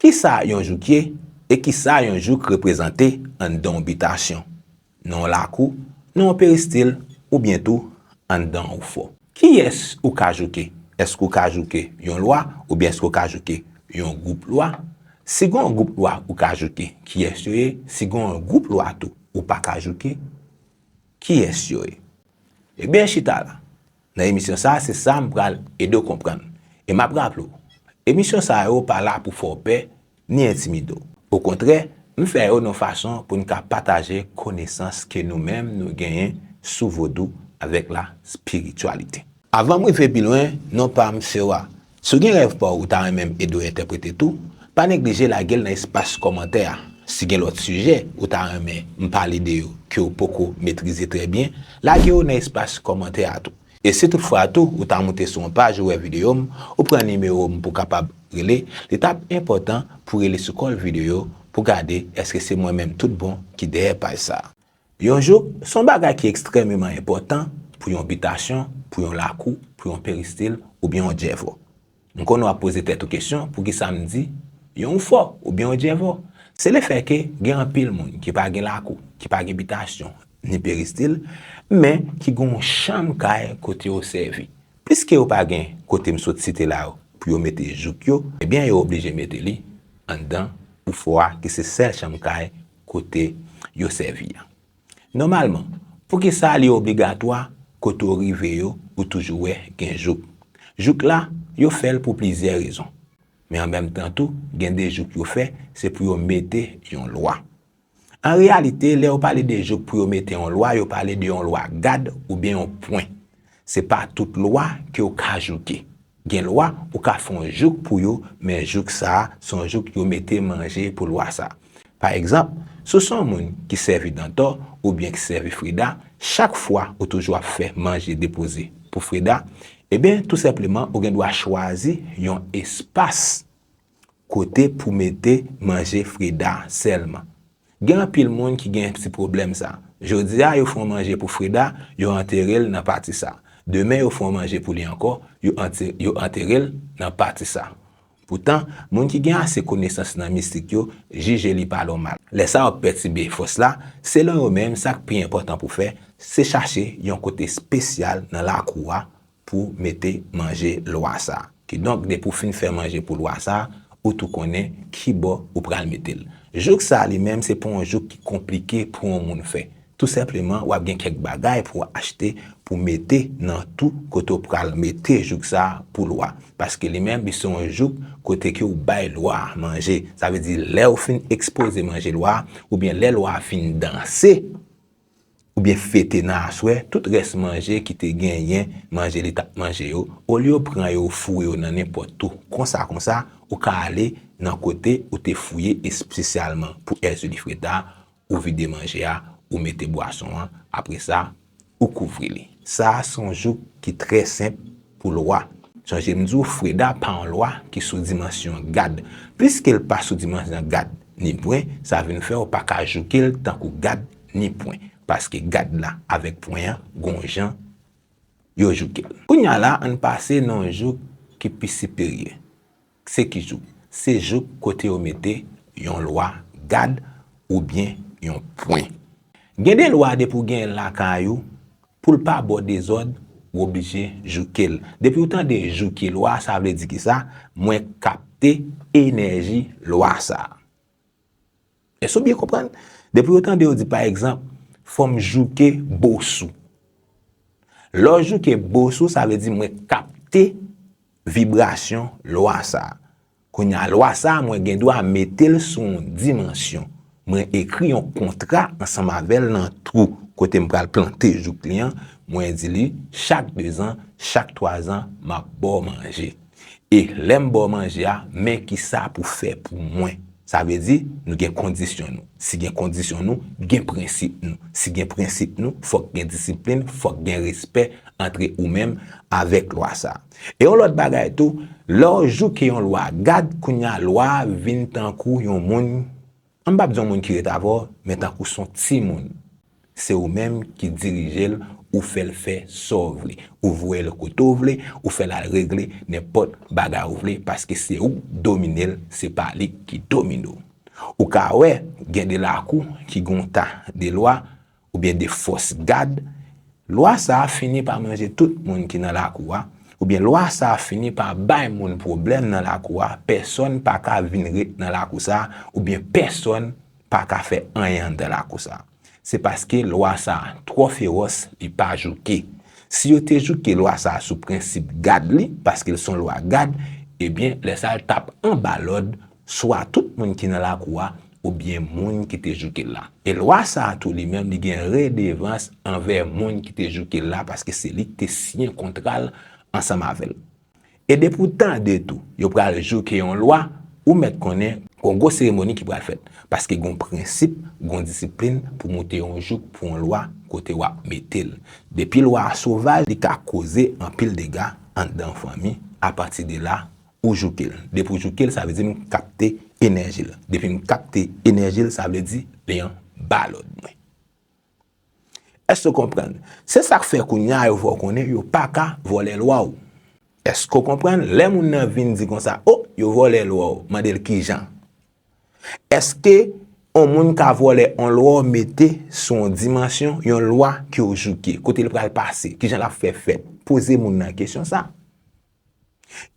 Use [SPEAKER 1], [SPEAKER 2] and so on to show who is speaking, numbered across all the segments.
[SPEAKER 1] Kisa yon jouk ye, e kisa yon jouk reprezante anndan yon bitasyon, nan yon lakou, nan yon peristil, oubyen tou anndan yon fò? Kiyès ou ka jouke? Èske ou ka jouke yon lwa, oubyen èske ou ka jouke yon gwoup lwa? Si gen yon gwoup lwa ou ka jouke, kiyès yo ye? Si gen yon gwoup lwa tou ou pa ka jouke, kiyès yo ye? Ebyen chita la nan emisyon sa a se sa m pral ede w konprann. E m ap raple w, emisyon sa yo pa la pou fè w pè ni entimide w. Okontrè, m fè yo nan fason pou n ka pataje konesans ke nou menm nou genyen sou vodou avèk la spirityalite. Avan m rive pi lwen, non pa m se wa. Si w gen rèv pa w ou ta renmen m ede w entèprete tou, pa neglije lage l nan espas kòmantè a. Si gen lòt sijè ou ta renmen m pale de yo ke w poko metrize trè byen, lage yo nan espas kòmantè a tou. E si tout fwa tou ou ta moute sou yon paj ou wè videyo m, ou pran nimewo m pou w kapab rele, li t ap enpòtan pou w rele sou kòl videyo pou w gade èske se mwen menm tout bon ki dèyè paj sa. Yon jouk, se yon bagay ki ekstrèmeman enpòtan pou yon bitasyon, pou yon lakou, pou yon peristil, oubyen yon djèvò. M konnen w ap poze tèt ou kesyon poukisa m di yon oufò oubyen yon djèvò. Se lefè ke gen anpil moun ki pa gen lakou, ki pa gen bitasyon, ni peristil, men ki gen yon chanm kay kote yo sèvi. Piske yo pa gen kote m sot site la yo pou yo mete jouk yo, ebyen yo oblije mete li anndan oufò a ki se sèl chanm kay kote yo sèvi a. Nòmalman, poukisa li obligatwa kote w rive yo ou toujou wè gen jouk? Jouk la, yo fè l pou plizyè rezon. Men an menm tan tou, gen de jouk yo fè se pou yo mete yon lwa. An reyalite, lè yo pale de jouk pou yo mete yon lwa, yo pale de yon lwa gad oubyen yon pwen. Se pa tout lwa ke w ka jouke. Gen lwa ou ka fè yon jouk pou yo men jouk sa a se yon jouk yo mete manje pou lwa sa a. Pa egzanp, si w se yon moun ki sèvi Dantò oubyen ki sèvi Freda, chak fwa ou toujou ap fè manje depoze pou Freda, eben tou senpleman ou gen dwa chwazi yon espas kote pou mete manje Freda sèlman. Gen anpil moun ki gen ti pwoblèm sa. Jodi a yo fè yon manje pou Freda, yo antere l nan pati sa. Demen yo fè yon manje pou li ankò, yo antere l nan pati sa. Poutan, moun ki gen ase konesans nan mistik yo jije li pa nòmal. Lè sa ap pètibe fòs la, selon yo menm sa k pi enpòtan pou fè, se chache yon kote spesyal nan lakou a pou mete manje lwa sa. Kidonk depi w fin fè manje pou lwa sa, ou tou konnen kibò ou pral mete l. Jouk sa li menm se pa yon jouk ki konplike pou yon moun fè. Tou senpleman w ap gen kèk bagay pou w achte pou mete nan tou kote w pral mete jouk sa pou lwa. Paske li menm li se yon jouk kote ke w bay lwa a manje. Sa vle di lè w fin ekspoze manje lwa a, oubyen lè lwa a fin danse, oubyen fete nan aswè, tout rès manje ki te genyen manje li t ap manje yo, olye yo pran yo ou foure yo nan nenpòt tou, konsa konsa ou ka ale nan kote ou te fouye espesyalman pou Èzili Freda, ou vide manje a, ou mete bwason an, apre sa, ou kouvri li. Sa a se yon jouk ki trè senp, pou lwa. Jan je m di w Freda pa yon lwa ki sou dimansyon gad. Pliske l pa sou dimansyon gad ni pwen, sa vin fè w pa ka jouke l tankou gad ni pwen. Paske gad la avèk pwen an gon jan yo jouke l. Kounya la an n pase nan yon jouk ki pi siperyè. Se ki jouk? Se jouk kote yo mete yon lwa gad oubyen yon pwen. Gen de lwa depi w genyen l lakay ou, pou l pa ba w dezòd, w oblije jouke l. Depi w tande jouke lwa sa vle di kisa, mwen kapte enèji lwa sa. Èske ou byen konprann? Depi ou tande yo di pa egzanp, fò m jouke bos ou. Lè w jouke bos ou, sa vle di mwen kapte vibrasyon lwa sa a. Kounye a, lwa sa a mwen gen dwa mete l sou yon dimansyon. Mwen ekri yon kontra ansanm avè l nan twou kote m pral plante jouk li an, mwen di li chak dezan, chak twazan, m ap ba w manje. E lè m ba w manje a, men ki sa pou fè pou mwen. Sa vle di, nou gen kondisyon nou. Si gen kondisyon nou, gen prensip nou. Si gen prensip nou, fòk gen disiplin, fòk gen respè antre ou menm avèk lwa sa a. E yon lòt bagay tou, lè w jouke yon lwa, gad kounye a lwa a vin tankou yon moun M pap di yon moun ki ret avè w, men tankou s on timoun. Se ou menm ki dirije l, ou fè l fè sa w vle. Ou voye l kote w vle, ou fè l al regle nenpòt bagay ou vle paske se ou k domine l, se pa li ki domine w. Ou ka wè gen de lakou ki gen yon ta de lwa, oubyen de fòs gad, lwa sa a fini pa manje tout moun ki nan lakou a, oubyen lwa sa a fini pa bay moun pwoblèm nan lakou a, pèsòn pa ka vin ret nan lakou sa a, oubyen pèsòn pa ka fè anyen anndan lakou sa a. Se paske lwa sa a twò fewòs, li pa jouke. Si yo te jouke lwa sa a sou prensip gad li, paske l s on lwa gad, ebyen lè sa a l t ap anba lòd swa tout moun ki nan lakou a oubyen moun ki te jouke l la. E lwa sa a tou li menm li gen redevans anvè moun ki te jouke l la paske se li ki te siyen kontra l ansanm avè l. E depi w tande tou yo pral jouke yon lwa, ou mèt konnen gon gwo seremoni ki pral fèt paske gon prensip, gon disiplin pou moute yon jouk pou yon lwa kote w ap mete l. Depi lwa a sovaj li ka koze anpil dega anndan yon fanmi, apati de la Ou jouke l. Depi ou jouke l, sa vle di m kapte enèji l. Depi m kapte enèji l, sa vle di leyon ba lòd mwen. Èske ou konprann? Se sa k fè kounye a yo fè w konnen yo pa ka vòlè lwa w. Èske ou konprann? Lè moun nan vin di konsa, O, yo vòlè lwa w, mande l ki jan. Èske yon moun ka vòlè yon lwa w mete sou yon dimansyon, yon lwa ke w jouke? Kote l pral pase? Ki jan l ap fè fèt? Poze moun nan kesyon sa a.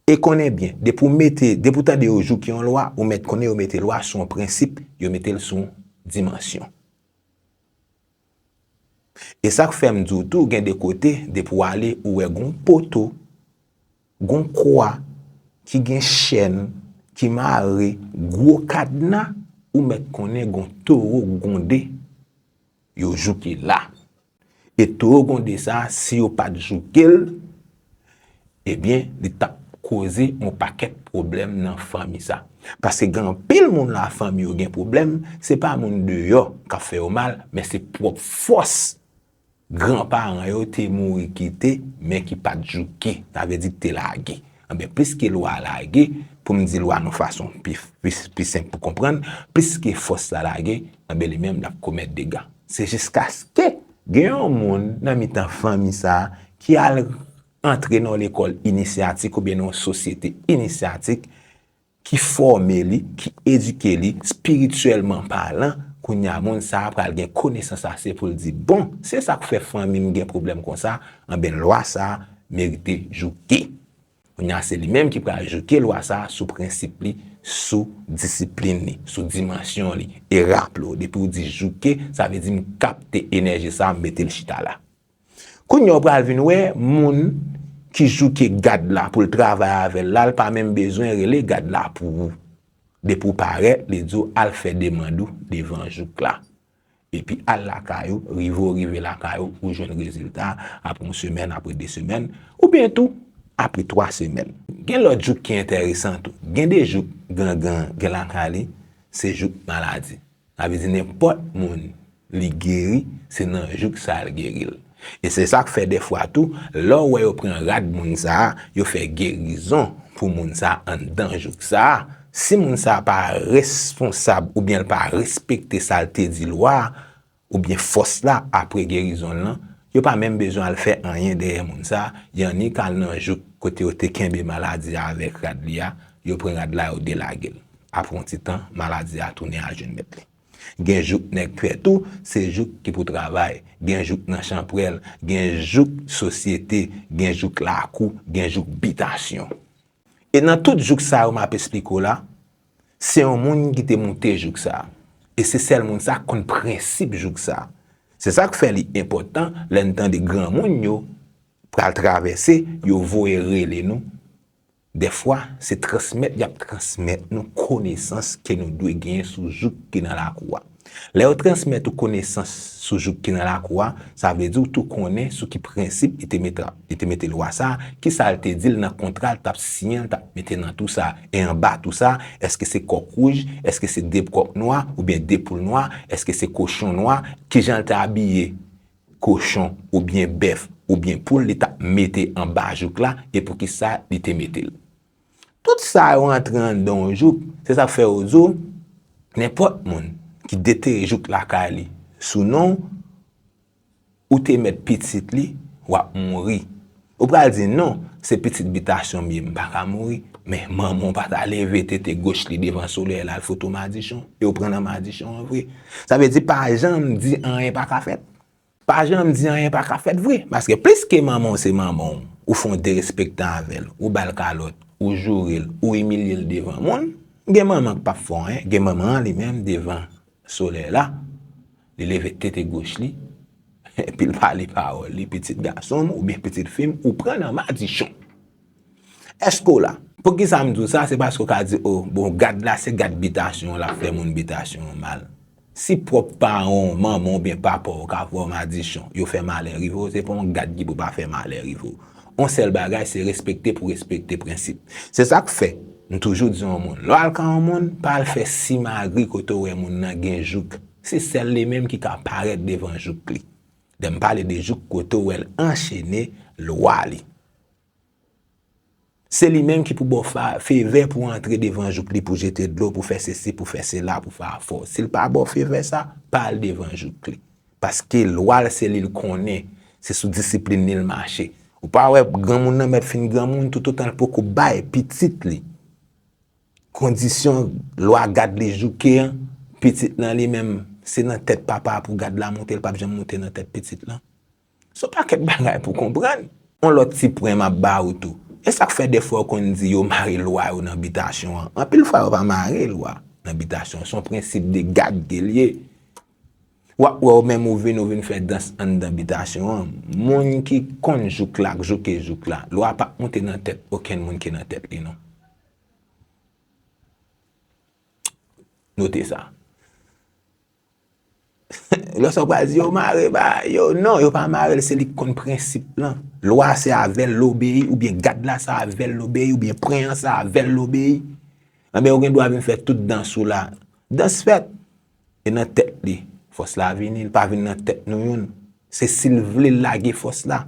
[SPEAKER 1] E konnen byen, depi w mete, depi w tande yo jouke yon lwa, ou mèt konnen yo mete lwa sou yon prensip, yo mete l sou yon dimansyon. E sa k fè m di w tou, gen de kote, depi w ale, ou wè gen yon poto, gen yon kwa, ki gen chèn, ki mare, gwo kadna, ou mèt konnen gen yon towo gonde, yo jouke la. E towo gonde sa si yo pat jouke l ebyen li tap koze yon pakèt pwoblèm nan fanmi sa. Paske gen anpil moun la fanmi yo gen pwoblèm se pa moun deyò kap fè yo mal men se pwòp fòs gran paran yo te mouri kite men ki pat jouke sa vle di ki te lage. Anben, pliske lwa a lage, pou m di lwa nou fason pi senp pou konprann, pliske fòs la lage, anben li menm l ap komèt dega. Se jiskaske gen yon moun nan mitan fanmi sa a ki al antre nan yon lekòl inisyatik oubyen nan yon sosyete inisyatik, ki fòme li, ki edike li, spirityèlman palan, kounye a moun sa a pral gen konesans ase pou l di, bon, se sa k fè fanmi m gen pwoblèm konsa, anben lwa sa a merite jouke. Kounye a se li menm ki pral jouke lwa sa a sou prensip li, sou disiplin li, sou dimansyon li. E raple w, depi w di jouke, sa vle di m kapte enèji sa a, m mete l chita la. Kounya ou pral vin wè moun ki jouke gad la pou l travay avè l la l pa menm bezwen rele gad la pou ou. Depi w parèt li di w al fè demand ou devan jouk la. Epi al lakay ou, rive ou rive lakay ou, ou jwenn rezilta a apre yon semèn, apre 2 semèn, oubyen tou apre 3 semèn. Gen lòt jouk ki enteresan tou. Gen de jouk gangan gen lakay li, se jouk maladi. Sa vle di nenpòt moun li geri se nan jouk sa l geri l. E se sa k fè dèfwa tou, lè w wè yo pran rad moun sa a, yo fè gerizon pou moun sa a anndan jouk sa a, si moun sa a pa responsab oubyen l pa respekte sa l te di lwa a oubyen fòs la apre gerizon l lan, yo pa menm bezwen al fè anyen dèyè moun sa a, y annik al nan jouk kote yo te kenbe maladi a avèk rad li a, yo pran rad la yo delage l. Apre yon ti tan, maladi a tounen al jwenn mèt li. Gen jouk nèg trèt ou, se jouk ki pou travay. Gen jouk nan chanprèl, gen jouk sosyete, gen jouk lakou, gen jouk bitasyon. E nan tout jouk sa yo m ap esplike w la, se yon moun ki te moute jouk sa. E se sèl moun sa k konn prensip jouk sa. Se sa k fè li enpòtan lè n tande granmoun yo pral travèse, yo voye rele nou Dèfwa, se transmèt y ap transmèt nou konesans ke nou dwe genyen sou jouk ki nan lakou a. Lè yo transmèt ou konesans sou jouk ki nan lakou a, sa vle di ou tou konnen sou ki prensip li te mete li te mete lwa sa, ki sa l te di l nan kontra l t ap siyen l t ap mete nan tou sa e anba tou sa, èske se kòk wouj, èske se de kòk nwa oubyen de poul nwa, èske se kochon nwa, ki jan l te abiye, kochon oubyen bèf oubyen poul li tap mete anba jouk la e poukisa li te metel. Tout sa yo antre anndan yon jouk, se sak fè yo diw nenpòt moun ki detere jouk lakay li sou non ou te mèt pitit li wap mouri Ou pral di, Non, se pitit bitasyon m ye, m pa ka mouri. Men, manman w pa ta leve tete goch li devan solèy la al fout ou madichon, e w pran nan madichon an vre. Sa vle di pa janm di anyen pa ka fèt. Pa janm di anyen pa ka fèt vre. Paske pliske manman w se manman w, ou fè yon derespektan avè l, ou ba l kalòt, ou joure l, ou imilye l devan moun, gen manman k pap fè w anyen, gen manman an li menm devan Solèy la, li leve tete goch li, epi l pale pawòl li, Pitit gason m oubyen pitit fi m, ou pran nan madichon. Èske w la? Poukisa m di w sa? Se paske w ka di, O, bon, gad la se gad bitasyon an l ap fè moun bitasyon an mal. Si pwòp paran w, manman w oubyen papa w, ka pran w madichon, yo fè malè rive w, se pa yon gad ki pou pa fè malè rive w. Yon sèl bagay se respekte pou respekte prensip. Se sa k fè, m toujou di yon moun, lè w al ka yon moun, pa al fè simagri kote w wè moun nan gen jouk. Se sèl li menm ki ka parèt devan jouk li. Lè m pale de jouk kote w wè l anchene lwa li. Se li menm ki pou ba w fevè pou w antre devan jouk li pou w jete dlo, pou w fè sesi, pou w fè sela, pou w fè afè w. Si l pa ba w fevè sa, pa al devan jouk li. Paske lwa l se li l konnen, se sou disiplin li l mache. Ou pa wè granmoun nan mèt fin granmoun toutotan l poko bay pitit li kondisyon lwa gad li jouke an, pitit lan li menm se nan tèt papa a pou gad la moute, l pap janm moute nan tèt pitit lan. Son pakèt bagay pou konprann. On lòt ti pwen map ba ou tou. Esak fè defwa ou konn di yo mare lwa yo nan bitasyon an? Anpil fwa yo pa mare lwa nan bitasyon, son prensip de gad ke liye. Wap wè ou menm ou vin ou vin fè dans anndan bitasyon an, moun ki konn jouk la k jouke jouk la. Lwa pap moute nan tèt okenn moun ki nan tèt li non. Note sa. Lè sa ou pral di yo mare bagay yo, non yo pa marel se li ki konn prensip lan. Lwa se avèl l obeyi oubyen gad la se avèl l obeyi oubyen pwen an se avèl l obeyi. Anben ou gen dwa vin fè tout dans ou la. Dans fèt e nan tèt li. Fòs la vini, li pa vin nan tèt nou youn. Se si l vle l lage fòs la.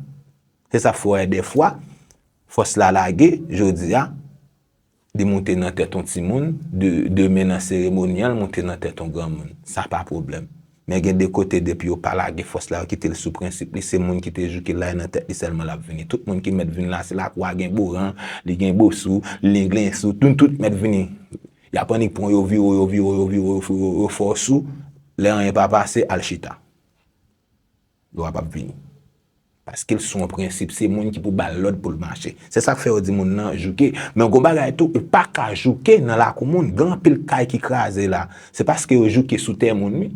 [SPEAKER 1] Se sa fè w wè dèfwa fòs la lage jodi a Li moute nan tèt on timoun, demen nan seremonyal moute nan tèt on granmoun. Sa pa pwoblèm. Men gen de kote depi yo pa lage fòs la yo kite l sou prensip li, se moun ki te jouke la e nan tèt li sèlman l ap vini. Tout moun ki mèt vini la se lakwa gen boran, li gen bo sou, lenglen sou, nou tout mèt vini. Y ap annik pran w yo vire w yo vire w yo vire w yo fè w yo fè w sou, lè anyen pa pase, al chita. Lwa pap vini. Paske l sou yon prensip se moun ki pou ba l lòd pou l mache. Se sa k fè yo di moun nan jouke. Men gon bagay tou ou pa ka jouke nan lakou moun. Gen anpil kay ki kraze la. Se paske yo jouke sou tè moun wi.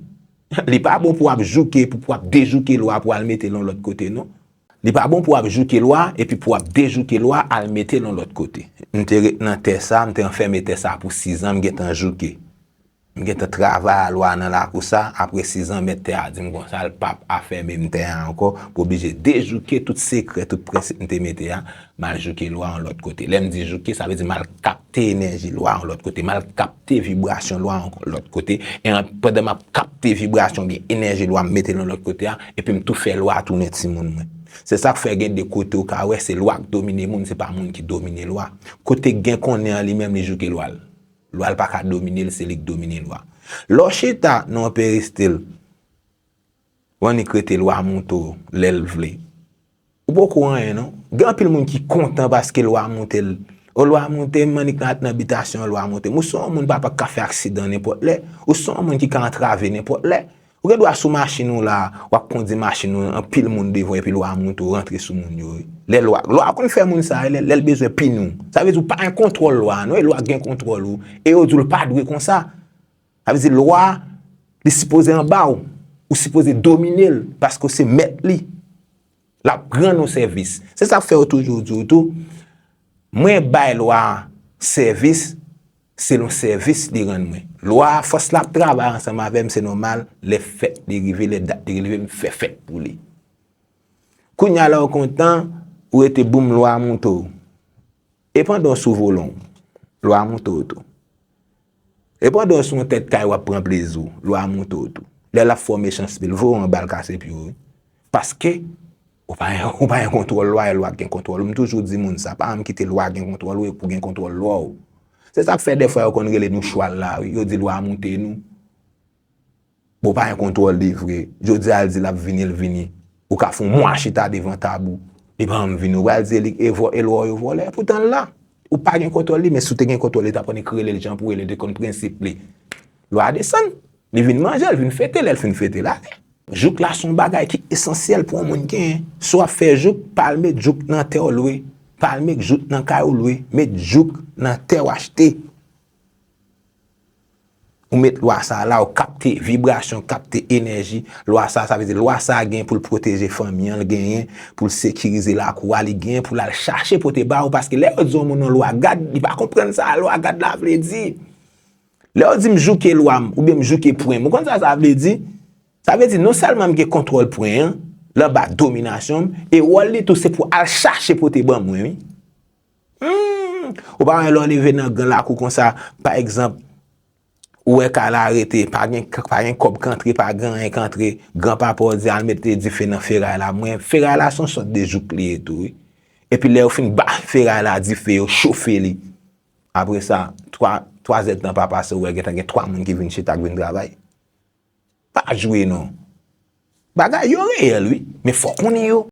[SPEAKER 1] Li pa bon pou w ap jouke epi pou w ap dejouke lwa pou w al mete l yon lòt kote non. Li pa bon pou w ap jouke lwa epi pou w ap dejouke lwa al mete l yon lòt kote. M te ret nan tè sa, m te anfème tè sa pou sizan m gentan jouke. M gentan travay a lwa nan lakou sa, apre 6 an mèt tè a di m konsa l pap afèmen m tè a ankò, m oblije dejouke tout sekrè, tout prensip m te mete a, m al jouke lwa yon lòt kote. Lè m di jouke, sa vle di m al kapte enèji lwa yon lòt kote, m al kapte vibrasyon lwa yon lòt kote, e an pandan m ap kapte vibrasyon oubyen enèji lwa m mete l yon lòt kote a, epi m tou fè lwa a tounen timoun mwen. Se sa k fè gen de kote ou ka wè se lwa k domine moun, se pa moun ki domine lwa. Kote gen konnen an li menm li jouke lwa l. Lwa l pa ka domine l, se li k domine lwa. Lè w chita nan yon peristil, w annik rete lwa moute w lè l vle. Ou poko anyen non. Gen anpil moun ki kontan paske lwa moute l. O lwa moute m, m annik ret nan bitasyon an lwa moute m. Ou se yon moun papa k ka fè aksidan nenpòt lè. Ou se yon moun ki ka antrave nenpòt lè. Ou gen dwa sou machin ou la, wap kondi machin ou, anpil moun devan epi lwa moto rantre sou moun yo wi. Lè lwa, lwa konn fè moun sa wi lè, lèl bezwen pini w. Sa vle di ou pa an kontwòl lwa a non e lwa gen kontwòl ou e yo di w l pa dwe konsa. Sa vle di lwa li sipoze anba w, ou sipoze domine l paske w se mèt li. L ap ran nou sèvis. Se sa k fè yo toujou di w tou, Mwen bay lwa a sèvis selon sèvis li rann mwen. Lwa a, fòs la ap travay ansanm avè m, se nòmal, lè fèt li rive, lè dat li rive, m fè fèt pou li. Kounye a la ou kontan, ou rete boum lwa a moute w. E pandan w sou volan w, lwa a monte w tou. E pandan w sou yon tèt kay w ap pran plezi w, lwa a monte w tou. Lè l ap fè w mechanste pil, voye w anba l kase pye w wi. Paske, ou pa gen kontwòl lwa, e lwa k gen kontwòl ou. M toujou di moun sa, pa janm kite lwa gen kontwòl ou epi w gen kontwòl lwa w. Se sa k fè dèfwa yo konn rele nou chwal la wi, yo di lwa a monte nou. Bon pa gen kontwòl li vre. Jodi a l di l ap vini l vini. Ou ka fè yon mwa chita devan tab ou li pa janm vini. Ou pral di e lwa w yo vòlè epoutan l la. Ou pa gen kontwòl li men si w te gen kontwòl li ta konnen k rele l jan pou rele l te konn prensip li. Lwa a desann. Li vin manje l vin fete lè l fin fete l ale. Jouk la s on bagay ki esansyèl pou yon moun genyen. Si w ap fè jouk pa al met jouk nan tè w lwe. Pa al met jouk nan kay ou lwe. Met jouk nan tè w achte. Ou met lwa sa a la, ou kapte vibrasyon, kapte enèji lwa sa a. Sa vle di lwa sa a gen pou l pwoteje fanmi an, li genyen pou l sekirize lakou a, li genyen pou l al chache pote ba ou. Paske lè yo di yon moun yon lwa gad, li pa konprann sa lwa gad la vle di. Lè yo di m jouke lwa m, oubyen m jouke pwen m, ou konn sa sa vle di? Sa vle di non sèlman m gen kontwòl pwen an, l anba dominasyon m, e wòl li tou se pou al chache pote ban mwen wi. Ou pa wè lè w leve nan gran lakou konsa, pa egzanp, ou wè kay la rete, pa gen kòb k antre, pa gen anyen k antre, gran papa w di al mete dife nan feray la, mwen feray la se yon sòt de jouk li ye tou wi. Epi lè yo fin ba feray la dife, yo chofe li, apre sa, twa zèd tan pa pase ou wè gen tan gen twa moun ki vin chita k vin travay. Pa jwe non. Bagay yo reyèl wi, men fò w konnen yo.